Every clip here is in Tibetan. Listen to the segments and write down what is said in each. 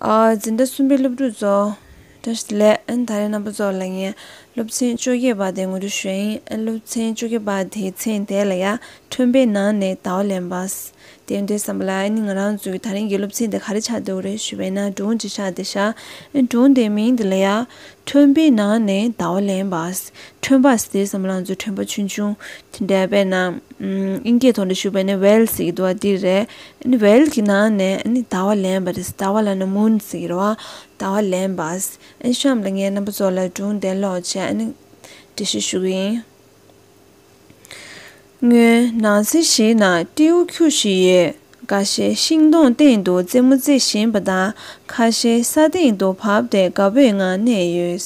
འཛིན་གྲྭ་གསུམ་པའི་སློབ་ཕྲུག་ཚོ། བཀྲ་ཤིས་ལས། ད་རེས་རྣམ་པ་ཚོ་ལ་ངས་སློབ་ཚན་བཅོ་བརྒྱད་པ་དེ་ངོ་སྤྲོད་ཞུ་ཡིན། སློབ་ཚན་བཅོ་བརྒྱད་པ་དེའི་ཚན་དེ་ལ་ཡང་ཁྲོན་པའི་ནང་ནས་དྭོགས་ལན་པ། དེ་འདྲའི་བསམ་པ་ལ་ཨེ་ནི་ང་རང་ཚོའི་ད་རིང་གི་སློབ་ཚན་དེ་ག་རེ་ཆགས་འདུག་རེད་ཞུས་པས་ན་སྒྲུང་ཅིག་ཆགས་ཏེ་ཤར། སྒྲུང་དེའི་མིང་དེ་ལ་ཡང། ཁྲོན་པའི་ནང་ནས་དྭོགས་ལན་པ། ཁྲོན་པ་ཟེར་བསམ་ང་རང་ཚོའི་ཁྲོན་པ་ཆུང་ཆུང་དེ་འདྲ་བས་ན། ཨིན་སྐད་ཐོག་འདྲ་ཞུ་བས་ན Wales ཡི་དུ་བ་འདི་རེད། བལ་གྱི་ནང་ནས་དར་བ་ལེན་པ། དར་བ་ལ་ནི་མུན་ཟེར་བ། དར་བ་ལེན་པ། གཤམ་ལ་ངའི་རྣམ་པ་ཚོ་ལ་སྒྲུང་བདེན་ཀློག་ཆེད་འབྲི་བཞེས་ཞུ་གི་ཡིན། ངོས་ནང་གསེར་ཞིག་ན་སྤྲེའུ་ཁྱུ་ཞིག་ཡོད། འགའ་ཤས་ཤིང་སྡོང་སྟེང་དུ་རྩེད་མོ་རྩེ་བཞིན་པ་དང་ཁ་ཤས་ས་སྟེང་དུ་བབས་ཏེ་དགའ་བོའི་ངང་གནས་ཡོད།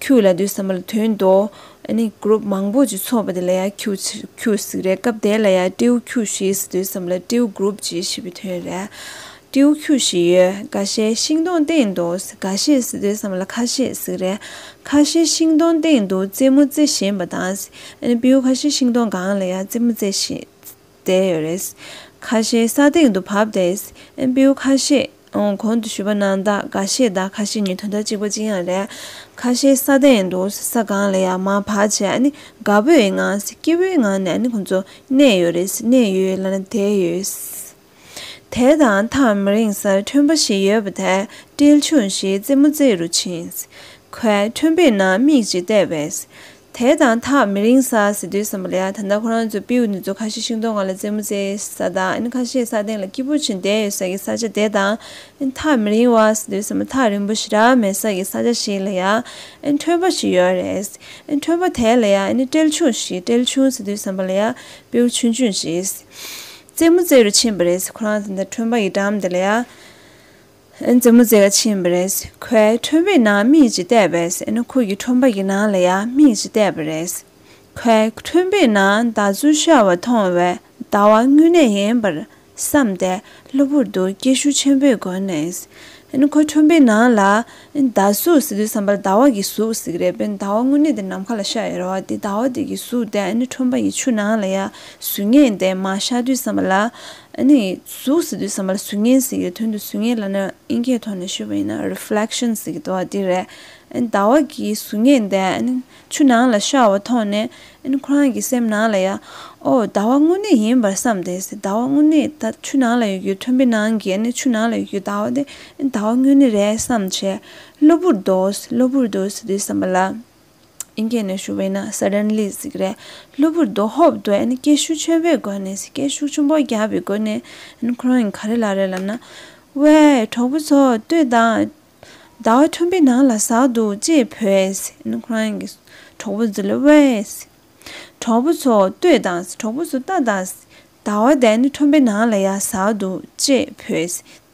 ཁྱུ་ལ་འདུས་བསམ་པ་ལ་དོན་མདོ། ཨ་ནི Group མང་པོ་ཅིག་ཚོགས་པ་དེ་ལ་ཡང་ཁྱུ་ཁྱུ་ཟིག་རེད་སྐབས་དེ་ལ་ཡང་ཀྲེའུ་ཁྱུ་ཞིག་འདུས་བསམ་ལ་ཀྲེའུ Group ཅིག་ཞེས་པའི་དོན་རེད། ཀྲེའུ་ཁྱུ་ཞིག་ཡོད་ག་ཤེ་ཤིང་སྡོང་སྟེང་དུ་ག་ཤེ་ཟིག་འདུས་བསམ་ལ་ཁ་ཤེ་ཟིག་རེད་ཁ་ཤེ་ཤིང་སྡོང་སྟེང་དུ་རྩེད་མོ་རྩེ་བཞིན་པ་དང། ཨ་ནི་པེའུ་ཁ་ཤེ་ཤིང་སྡོང་སྒང་ལ་ཡང་རྩེད་མོ་རྩེ་བཞིན། བསྡད་ཡོད་རེད། ཁ་ཤས་ས་སྟེང་དུ་བབས་ཏེ་ཨེམ་བེའུ་ཁ་ཤས་གོང་དུ་ཞུས་པ་ནང་དག་འགའ་ཤས་དང་ཁ་ཤས་ནི་དོན་དག་གཅིག་པ་ཅི་ཡང་རེད། ཁ་ཤས་ས་སྟེང་དུ་ས་སྒང་ལ་ཡར་མར་བག་ཆེ་དགའ་པོའི་ངང་སྐྱིད་པོའི་ངང་ནས་ཁོང་ཚོ་གནས་ཡོད་རེད་གནས་ཡོད་ལ་བསྡད་ཡོད། དེ་དང་ཐག་མི་རིང་སར་ཁྲོན་པ་ཞིག་ཡོད་པ་དེར་ཏིལ་ཆུང་ཞིག་རྩེད་མོ་རྩེད་རུ་ཕྱིན། ཁོས་ཁྲོན་པའི་ནང་མིག་ཅིག་བལྟས་པས། དེ་དང་ཐག་མི་རིང་ས་ཟེར་དུས་བསམ་པ་ལ་ད་ལྟ་ཁོ་རང་ཚོའི་པིའུ་ནི་ཛོ་ཁ་ཤས་ཤིང་སྡོང་ང་ལ་རྩེད་མོ་རྩེ་ས་དང་ཨིན་ཁ་ཤས་ས་སྟེང་ལ་སྐྱིད་པོ་བྱེད་བསྡད་ཡོད་ས་ཀྱི་ས་ཆ་དེ་དང་ཨིན་ཐག་མི་རིང་བ་ཟེར་དུས་བསམ་པ་ཐག་རིང་པོ་ཞིག་རག་མེད་ས་ཀྱི་ས་ཆ་ཞིག་ལ་ཡང་ཨིན་ཁྲོན་པ་ཞིག་ཡོད་རེད། ཨིན་ཁྲོན་པ་དེ་ལ་ཡང་ཨིན་ཀྲེལ་ཆུང་ཞིག་ཀྲེལ་ཆུང་ཟེར་དུས་བསམ་པ་ལ་ཡང་པིའུ་ཆུང་ཆུང་ཞིག་རྩེད་མོ་རྩེ་རུ་ཕྱིན་པ་རེད་ཟེར་ཁོ་རང་ཚོ་ད་ཁྲོན་པ་ཡི་འགྲམ་དེ་ལ་ཡང། མཛའ་མོ་མཛེས་ཀ་ཕྱིན་པ་རེད། ཁོའི་ཁྲོན་པའི་ནང་མིག་ཅིག་བལྟས་པས་ཨེ་ན་ཁོ་ཡི་ཁྲོན་པ་ཡི་ནང་ལ་ཡང་མིག་ཅིག་བལྟས་པ་རེད། ཁོའི་ཁྲོན་པའི་ནང་ཟླ་མཚོ་ཤར་བ་མཐོང་བས་ཟླ་བ་དངོས་གནས་ཡིན་པར་བསམ་སྟེ་གློ་བུར་དུ་སྐད་ཤུགས་ཆེན་པོས་སྒོ་ནས། ཨེ་ན་ཁོའི་ཁྲོན་པའི་ནང་ལ་ཟླ་གཟུགས་ཟིག་འདུག་བསམ་པར་ཟླ་བ་གི་གཟུགས་ཟིག་རེད་པས་ཟླ་བ་དངོས་གནས་དེ་ནམ་མཁའ་ལ་ཤར་ཡོད་རེད་བ་དེ་ཟླ་བ་དེ་གི་གཟུགས་དེ་ཨེ་ན་ཁྲོན་པ་ཡི་ཆུ་ནང་ལ་ཡང་བཟོས་ངེས་དེ་མ་ཤར་དུས་བསམ་པ་ལ། ཨ་ནི། གཟུགས་ཟེར་དུས་ཟ་མ་ལ་གཟུགས་བརྙན་ཟེར་གྱི་དོན་དུ་གཟུགས་བརྙན་ལ་ནི་དབྱིན་སྐད་ཐོག་ནས་ཤོད་པ་ཡིན་ན Reflection ཟེར་གྱི་འདུག་ཨ་དེ་རེད། ཨ་ནི་ཟླ་བ་གིས་གཟུགས་བརྙན་དེ་ཨ་ནི་ཆུ་ནང་ལ་ཤར་བ་མཐོང་ནས་ཨ་ནི་ཁོ་རང་གི་སེམས་ནང་ལ་ཡ། ཨོ། ཟླ་བ་དངོས་གནས་ཡིན་པར་བསམས་ཏེ། ཟླ་བ་དངོས་གནས་ད་ཆུ་ནང་ལ་ཡོད་རྒྱུའི་མཐོན་པོའི་ནང་གི་ཨ་ནི་ཆུ་ནང་ལ་ཡོད་རྒྱུའི་ཟླ་བ་དེ་ཨ་ནི་ཟླ་བ་དངོས་གནས་རེད་བསམས་བྱས། གློ་བུར་དུ། གློ་བུར་དུ་ཟེར་དུས་ཟ་མ་ལ། ཨིན་སྐད་ནས་ཞུ་བས་ན Suddenly ཟིག་རེད། གློ་བུར་དུ་ཧོབ་དུ་ཨིན་སྐད་ཤུགས་ཆེན་པོས་བསྒོས་ནས་ཟིག་སྐད་ཤུགས་ཆུང་པོ་རྒྱག་པའི་སྒོ་ནས་ཨིན་ཁོང་གིས་ག་རེ་ལ་རེ་ལབ་ན། ཝེ། གྲོགས་པོ་ཚོ་ལྟོས་དང། ཟླ་བ་ཁྲོན་པའི་ནང་ལ་ཟག་འདུག་ཅེས་བོས། ཨིན་ཁོང་གིས་གྲོགས་པོ་ཚོ་ལ་ཝེ། གྲོགས་པོ་ཚོ་ལྟོས་དང། གྲོགས་པོ་ཚོ་ལྟ་དང། ཟླ་བ་འདས་ནས་ཁྲོན་པའི་ནང་ལ་ཡར་ཟག་འདུག་ཅེས་བོས།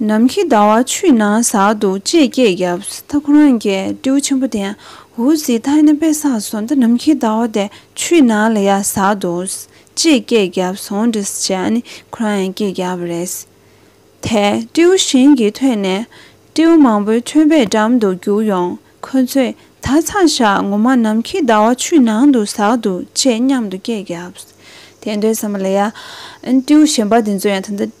ནམ་མཁའི་ཟླ་བ་ཆུའི་ནང་ཟག་འདུག་ཅེས་སྐད་བརྒྱབ། ད་ཁོ་རང་གིས་སྤྲེའུ་ཆེན་པོ་དེ་འུར་ཟིག་ཐག་ནས་པས་ཟགས་སོང་ད་ནམ་མཁའི་ཟླ་བ་དེ་ཆུའི་ནང་ལ་ཡར་ཟགས་འདུག་ཅེས་སྐད་བརྒྱབ་སོང་འདྲི་ཞེས་ཨཱ་ནི་ཁོ་རང་ཡང་སྐད་བརྒྱབ་པ་རེད། དེ་སྤྲེའུ་གཞན་གྱིས་ཐོས་ནས། སྤྲེའུ་མང་པོའི་ཁྱོད་པའི་འགྲམ་དུ་རྒྱུག་ཡོང། ཁོ་ཚོས་ད་ཚང་ཞག་ངོ་མ་ནམ་མཁའི་ཟླ་བ་ཆུའི་ནང་དུ་ཟགས་འདུག་ཅེས་མཉམ་དུ་སྐད་བརྒྱབ། དེ་འདྲའི་ཟེར་མ་ལ་ཡ། སྤྲེའུ་གཞན་པ་དེ་ཚོ་ཡང་ད།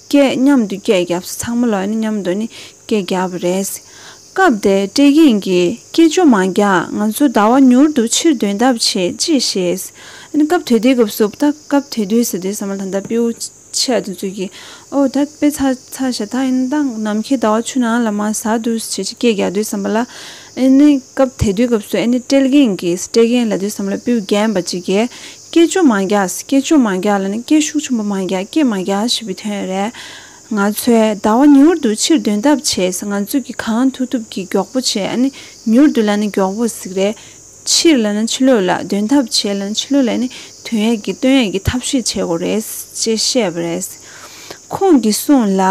སྐད་མཉམ་དུ་སྐད་བརྒྱབས་སོ་ཚང་མ་ལ་མཉམ་དུ་ནི་སྐད་བརྒྱབས་པ་རེད། སྐབས་དེར་ཀྲེ་དབྱིན་གྱིས་སྐད་ཅུང་མང་རྒྱག་ང་ཚོ་ཟླ་བ་མྱུར་དུ་ཕྱིར་འདོན་ཐབས་བྱེད་ཅེས་བཤད། སྐབས་དེ་དུས་སྐབས་སུ་ད་སྐབས་དེ་དུས་ཟེར་དུས་ཟ་མ་ལ་ད་པེའུ་ཆད་དུ་འཛུལ་གྱིས་ཨོ་ད་དཔེ་ཚ་ཚ་ཞེ་ཐག་ཡིན་ད་ནམ་མཁའི་ཟླ་བ་ཆུ་ནང་ལ་མ་ཟ་དུས་ཞེས་སྐད་བརྒྱག་དུས་ཟ་མ་ལ་ཨེ་ནི་སྐབས་དེ་དུས་སྐབས་སུ་ཨེ་ནི་ཀྲེ་དབྱིན་གྱིས་ཀྲེ་དབྱིན་ལ་དུས་ཟ་མ་ལ་པེའུ་བརྒྱན་པ་ཅིག་གིས་སྐད་ཅུང་མང་རྒྱག་སྐད་ཅུང་མང་རྒྱག་ལ་ནི་སྐད་ཤུགས་ཆུང་པོ་མང་རྒྱག་སྐད་མང་རྒྱག་ཞེས་པའི་དོན་རེད། ང་ཚོས་ཟླ་བ་མྱུར་དུ་ཕྱིར་འདོན་ཐབས་བྱེད་ཚེ་ང་ཚོས་ཀྱིས་གང་ཐུབ་ཐུབ་ཀྱིས་མགྱོགས་པོ་བྱེད་ཨ་ནི་མྱུར་དུ་ལ་ནི་མགྱོགས་པོ་ཟིག་རེད། ཕྱིར་ལ་ནི་ཕྱི་ལོག་ལ་འདོན་ཐབས་བྱེད་ལ་ནི་ཕྱི་ལོག་ལ་ནི་དོན་ཡག་གི་སྟོན་ཡག་གི་ཐབས་ཤེས་བྱེད་དགོས་རེད། ཅེས་བཤད་པ་རེད། ཁོང་གིས་གསུངས་ལ།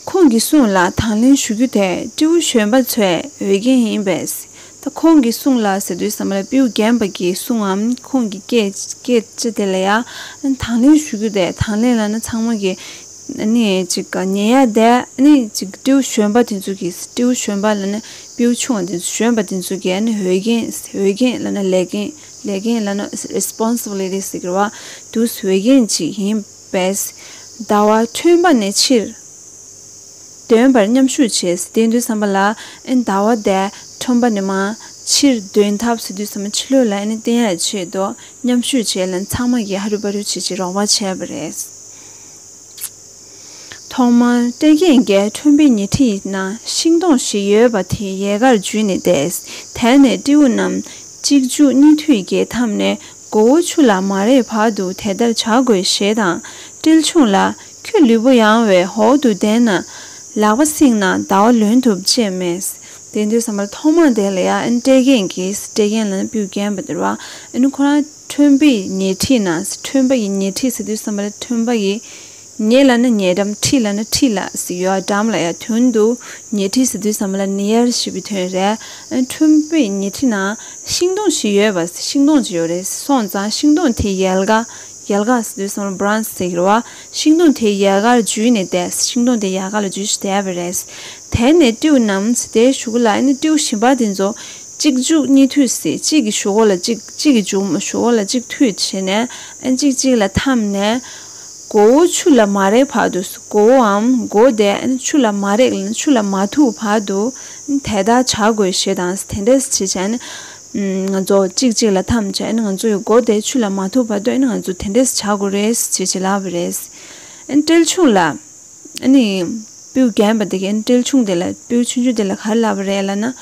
ཁོང་གི་གསུང་ལ་དང་ལེན་ཞུ་རྒྱུ་དེ་སྤྲེའུ་གཞོན་པ་ཚོའི་འོས་འགན་ཡིན་པས། ད་ཁོང་གི་གསུང་ལ་ཟེར་དུས་ཟ་མ་ལ་སྤེའུ་རྒན་པ་གྱི་གསུང་ངམ་ཁོང་གི་སྐད་ཆ་དེ་ལ་ཡང་དང་ལེན་ཞུ་རྒྱུ་དེ་དང་ལེན་ལ་ན་ཚང་མ་གི་ནི་ཅིག་ཉན་ཡ་དེ་ནི་ཅིག་སྤྲེའུ་གཞོན་པ་དེ་ཚོ་གི་སྤྲེའུ་གཞོན་པ་ལ་ན་སྤེའུ་ཆུང་བ་དེ་ཚོ་གཞོན་པ་དེ་ཚོ་གི་ནི་འོས་འགན་འོས་འགན་ལ་ན་ལས་འགན་ལས་འགན་ལ་ན Responsibility ཟེར་བ་དུས་འོས་འགན་ཅིག་ཡིན། བས། ཟླ་བ་ཁྲོན་པ་ནས་ཕྱིར། འདོན་པར་མཉམ་ཞུགས་བྱས། ཟི་ཏའི་འདུན་བསམ་པ་ལ། ཟླ་བ་འདས། ཁྲོན་པ་ནས་མ། ཕྱིར། འདོན་ཐབས་སུ་འདུན་བསམ་པ་ཕྱི་ལོད་ལ་བསྟན་ཡར་ཆེད་དུ་མཉམ་ཞུགས་བྱས་ལ་ཚང་མ་གིས་ཧ་རུ་པ་རུ་བྱེད་ཅེས་རོགས་པ་བྱས་པ་རེད། ཐོག་མར་སྟོན་རྒྱལ་འགས་ཁྲོན་པའི་ཉེ་འཁྲིས་ན་ཤིང་སྡོང་བཞི་ཡོད་པ་དེ་ཡལ་གར་འཇུས་ནས་བསྡད། དེ་ནས་སྤྲེའུ་རྣམས་གཅིག་འཇུག་གཉིས་མཐུད་རྒྱལ་འཐམ་ནས་མགོ་བོ་ཆུ་ལ་མ་རེག་བར་དུ་དེ་ལྟར་བྱ་དགོས་ཞེས་དང། ཏིལ་ཕྱུངས་ལ། ཁྱོད་ལུས་པོ་ཡང་བའི་འོག་ཏུ་བསྡད་ན། ལག་པ་བསྲིངས་ན་ཟླ་བ་ལོན་ཐུབ་ཅེས་སྨྲས། དེ་འདྲའི་ཟ་མར་ཐོག་མར་དེ་ལ་ཡ་ཨན་སྤྲེལ་རྒན་གྱིས་སྤྲེལ་རྒན་ལ་སྤུས་བརྒྱན་པ་དེར་བ་ཨན་ཁོ་རང་ཁྲོན་པའི་ཉེ་འཁྲིས་ན་སི་ཁྲོན་པ་ཡི་ཉེ་འཁྲིས་སི་ཏུའི་ཟ་མ་ལ་ཁྲོན་པ་ཡི་ཉེས་ལ་ནི་ཉེས་དམ་ཁྲིད་ལ་ནི་ཁྲིད་ལ་ཟེར་ཡོད་དམ་ལ་ཡ་དོན་དུ་ཉེས་ཁྲིད་ཟེར་དུས་ཟ་མ་ལ་ནི་ཡར་ཞུས་པའི་དོན་རེད། ཁྲོན་པོས་ཉེས་ཁྲིད་ན་ཤིང་སྡོང་ཞིག་ཡོད་པ་ཟེར་ཤིང་སྡོང་ཅིག་ཡོད་རེད་སོང་ཙང་ཤིང་སྡོང་དེའི་ཡལ་ག་ཡལ་ག་ཟེར་དུས་ཟ་མ་ལ Branch ཟེར་བ་ཤིང་སྡོང་དེའི་ཡལ་གར་འཇུས་ནས་བསྡད་ཤིང་སྡོང་དེའི་ཡལ་ག་ལ་འཇུས་ཤིང་བསྡད་པ་རེད། དེ་ནས་ཏིའུ་ནམ་ཟེར་དེའི་གཞུག་གུ་ལ་ནི་ཏིའུ་ཞིམ་པ་དེ་ཚོ་གཅིག་འཇུག་གཉིས་འཐུས་ཟེར་གཅིག་གི་གཞུག་གུ་ལ་གཅིག་གཅིག་གི་འཇུག་གཞུག་གུ་ལ་གཅིག་འཐུས་བྱས་ནས་གཅིག་གཅིག་ལ་འཐམས་ནས། མགོ་བོ་ཆུ་ལ་མ་རེག་བར་དུ་མགོ་བོའམ་མགོ་བདེན་ཆུ་ལ་མ་རེག་ཆུ་ལ་མ་ཐུག་བར་དུ་དེ་ལྟར་བྱ་དགོས་ཞེས་དང་དེ་འདྲ་བྱེད་བྱས་ནི། ང་ཚོ་གཅིག་གཅིག་ལ་འཐམ་བྱས་ནི་ང་ཚོ་ཡི་མགོ་བདེ་ཆུ་ལ་མ་ཐུག་བར་དུ་ང་ཚོ་དེ་འདྲ་བྱ་དགོས་རེད་ཅེས་བྱེད་ལབ་པ་རེད། ཏིལ་ཆུང་ལ་ནི་སྤུའི་རྒན་པ་དེ་གས་ཏིལ་ཆུང་དེ་ལ་སྤུའི་ཆུང་ཆུང་དེ་ལ་གར་ལབ་པ་རེད་ལ་ན་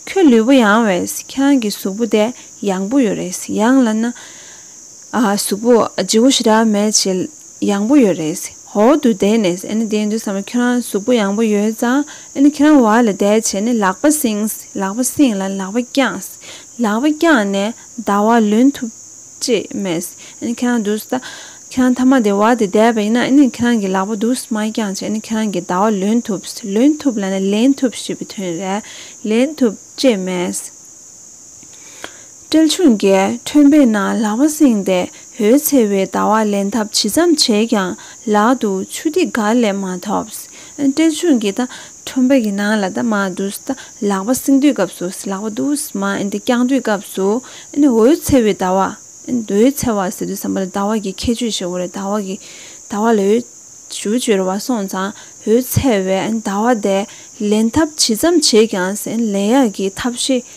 ཁྱོད་ལུས་པོ་ཡང་བས་ཁྱེད་རང་གི་གཟུགས་པོ་དེ་ཡང་པོ་ཡོད་རེད་ཡང་ལ་ན། ཨ་ཧ་གཟུགས་པོ་བརྗེ་བོ་ཞེ་དྲག་མེད་བྱེད། ཡང་པོ་ཡོད་རེད། ཧོ་དུ་བསྡད་ནས་ཨེ་ནི་བསྡད་འདུག་བསམ་ན་ཁྱོད་རང་གཟུགས་པོ་ཡང་པོ་ཡོད་ཙང་ཨེ་ནི་ཁྱེད་རང་བ་ལ་བསྡད་བྱས་ནས་ལག་པ་བསྲིངས། ལག་པ་བསྲིངས་ལ་ལག་པ་བརྐྱངས། ལག་པ་བརྐྱངས་ནས་ཟླ་བ་ལོན་ཐུབ། ཅེས་སྨྲས། ཨེ་ནི་ཁྱེད་རང་འདུག་ཟླ། ཁྱེད་རང་མཐའ་མ་དེ་བ་དེ་བསྡད་པ་ཡིན་ན་ཨེ་ནི་ཁྱེད་རང་གི་ལག་པ་འདུག་མ་བརྐྱངས་བྱས་ཨེ་ནི་ཁྱེད་རང་གི་ཟླ་བ་ལོན་ཐུབ། ལོན་ཐུབ་ལ་ནི་ལེན་ཐུབ་ཞེས་པའི་དོན་རེད། ལེན་ཐུབ། ཅེས་སྨྲས། སྤྲེལ་ཆུང་རྒྱལ་ཁྲོན་པས་ན་ལག་པ་བསྲིངས་ཏེ་འོད་འཚེར་བའི་ཟླ་བ་ལེན་ཐབས་ཇི་ཙམ་བྱས་ཀྱང་ལག་ཏུ་ཆུ་ཐིགས་འགའ་ལས་མ་ཐོབས། སྤྲེལ་ཆུང་གིས་ད་ཁྲོན་པ་ཡི་ནང་ལ་ད་མ་འདུག་ད་ལག་པ་བསྲིངས་དུས་སྐབས་སུ་ལག་པ་འདུག་མ་འདི་བརྐྱང་དུས་སྐབས་སུ་འོད་འཚེར་བའི་ཟླ་བ། འོད་འཚེར་བ་ཟེར་དུས་བསམ་པ་ལ་ཟླ་བ་གི་ཁྱད་ཆོས་ཤིག་འོ་རེད་ཟླ་བ་གི་ཟླ་བ་ལ་འོད་ཞུ་བཅོལ་བ་སོང་ཙང་འོད་འཚེར་བའི་ཟླ་བ་དེ་ལེན་ཐབས་ཇི་ཙམ་བྱས་ཀྱང་ལེན་ཡག་གི་ཐབས་ཤེས་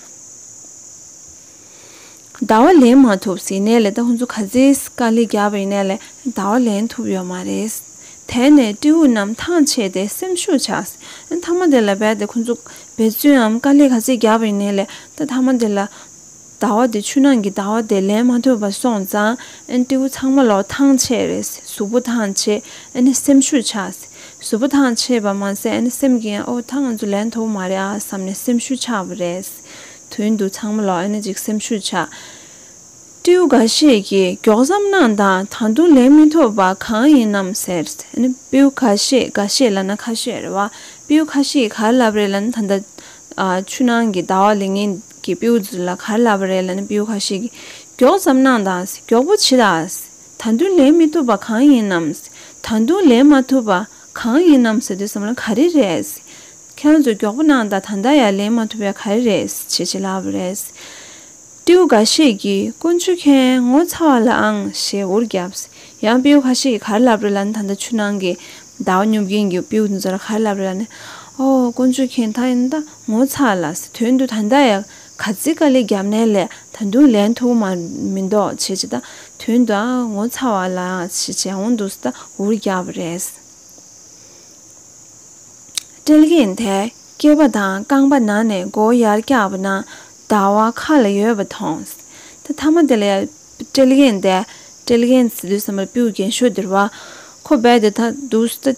ཟླ་བ་ལེན་མ་ཐུབ་ཟིན་ནས་ལེ་ད་ཁོང་ཚོ་ག་ཚེ་དཀའ་ལས་རྒྱག་པ་ཡིན་ན་ལེ་ད་བ་ལེན་ཐུབ་ཡོད་མ་རེད། དེ་ནས་སྤྲེའུ་རྣམས་ཐང་ཆད་དེ་སེམས་ཤུགས་ཆག་ཟིན་མཐའ་མ་དེ་ལ་རྦད་དེ་ཁོང་ཚོ་འབད་བརྩོནའམ་དཀའ་ལས་ག་ཚེ་རྒྱག་པ་ཡིན་ན་ལེ་ད་མཐའ་མ་དེ་ལ། ཟླ་བ་དེ་ཆུ་ནང་གི་ཟླ་བ་དེ་ལེན་མ་ཐུབ་པ་སོང་ཙང་སྤྲེའུ་ཚང་མ་ལོག་ཐང་ཆད་རེད་ཟིན་གཟུགས་པོ་ཐང་ཆད་སེམས་ཤུགས་ཆག་ཟིན་བཟོ་བོ་ཐང་ཆད་པ་མ་ཟད་ནི་སེམས་ཀྱིས་ཡང་ཨོ་ད་ང་ཚོ་ལས་མཐོ་བོ་མ་རེད་ཨ་བསམ་ནས་སེམས་ཤུགས་ཆགས་པ་རེད། དོན་དུ་ཚང་མ་ལོག་ནས་ཅིག་སེམས་ཤུགས་ཆགས། སྤྲེའུ་འགའ་ཤས་ཀྱིས་མགྱོགས་ཙམ་གནང་དང་ད་དུང་ལས་མི་མཐོ་བ་གང་ཡིན་ནམ་ཟེར། སྤྲེའུ་ཁ་ཤས་འགའ་ཤས་ལ་ན་ཁ་ཤས་རེད་བ། སྤྲེའུ་ཁ་ཤས་ཀྱིས་གར་ལབ་རེད་ལ་ནི་ད་ལྟ་ཆུ་ནང་གི་ཟླ་བ་ལས་ངན་གྱི་སྤྲེའུ་ཚོ་ལ་གར་ལབ་པ་རེད་ལ་ནི་སྤྲེའུ་ཁ་ཤས་ཀྱིས་མགྱོགས་ཙམ་གནང་དང་མགྱོགས་པོ་བྱེད་དང། ད་དུང་ལེན་མི་ཐུབ་པ་གང་ཡིན་ནམ། ད་དུང་ལེན་མ་ཐུབ་པ་གང་ཡིན་ནམ་ཟེར་དུས་བསམ་བློ་ག་རེ་རེད། ཁྱོད་ཚོས་མགྱོགས་པོ་གནང་དང་ད་ལྟ་ཡང་ལེན་མ་ཐུབ་པའི་ག་རེ་རེད་ཅེས་བྱེད་སླ་བ་རེད། སྤྲེའུ་འགའ་ཤས་ཀྱིས་རྐུན་མཆོད་མཁན་ངོ་ཚ་བ་ལའང་ཞེས་འུར་བརྒྱབ། ཡང་སྤེའུ་ཁ་ཤས་ཀྱིས་གར་ལབ་རེད་ལ་ནི་ད་ལྟ་ཆུ་ནང་གི་ཟླ་བ་སྙོབ་མཁན་གྱི་སྤེའུ་དེ་ཚོ་ལ་གར་ལབ་རེད་ལ་ནི། ཨོ། རྐུན་མཆོད་མཁན་ད་ཡིན་ད་ངོ་ཚ་ལ། དོན་དུ་ད་ལྟ་ཡང། ག་ཙི་ཀ་ལི་རྒྱབ་ནན་ལས་ད་དུང་ལན་ཐུང་མ་མི་འདོག་བྱེད་ཅི་ད་དུས་ད་ངོ་ཚ་བ་ལའང་བྱེད་འོང་འདུག་སི་ད་འུར་རྒྱག་པ་རེད། སྤྲེལ་རྒན་དེ་སྐྱེས་པ་དང་རྐང་པ་ནང་ནས་མགོ་ཡར་བཀྱགས་པ་ན་ཟླ་བ་ཁ་ལ་ཡོད་པ་མཐོང། ད་ཐ་མ་དེ་ལས་སྤྲེལ་རྒན་དེ་སྤྲེལ་རྒན་སི་ཏུ་ས་མ་པིའུ་རྒན་ཤོས་དེར་བ་ཁོ་རྦད་དེ་ད་འདུག་སི་ད་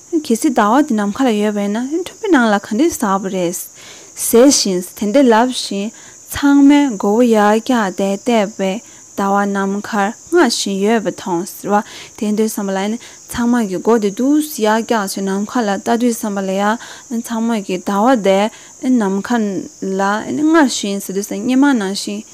གལ་སྲིད་ཟླ་བ་འདི་ནམ་མཁའ་ལ་ཡོད་པས་ན་འཕྲུལ་པའི་ནང་ལ་ག་འདྲའི་ཟབ་པ་རེད། ཟེར་བཞིན་དེ་འདྲ་ལབ་བཞིན་ཚང་མས་མགོ་བོ་ཡར་བཀྱགས་ཏེ་བལྟས་པས་ཟླ་བ་ནམ་མཁར་སྔར་བཞིན་ཡོད་པ་མཐོང། ཟེར་བ་དེ་འདྲའི་བསམ་པ་ལ་ཡང་ཚང་མ་གིས་མགོ་དེ་དུས་སུ་ཡར་བཀྱགས་བྱས་ནམ་མཁའ་ལ་ལྟ་དུས་བསམ་པ་ལ་ཡང་ཚང་མ་གིས་ཟླ་བ་དེ་ནམ་མཁའ་ལ་སྔར་བཞིན་ཟེར་དུས་སྙེ་མ་ནང་བཞིན།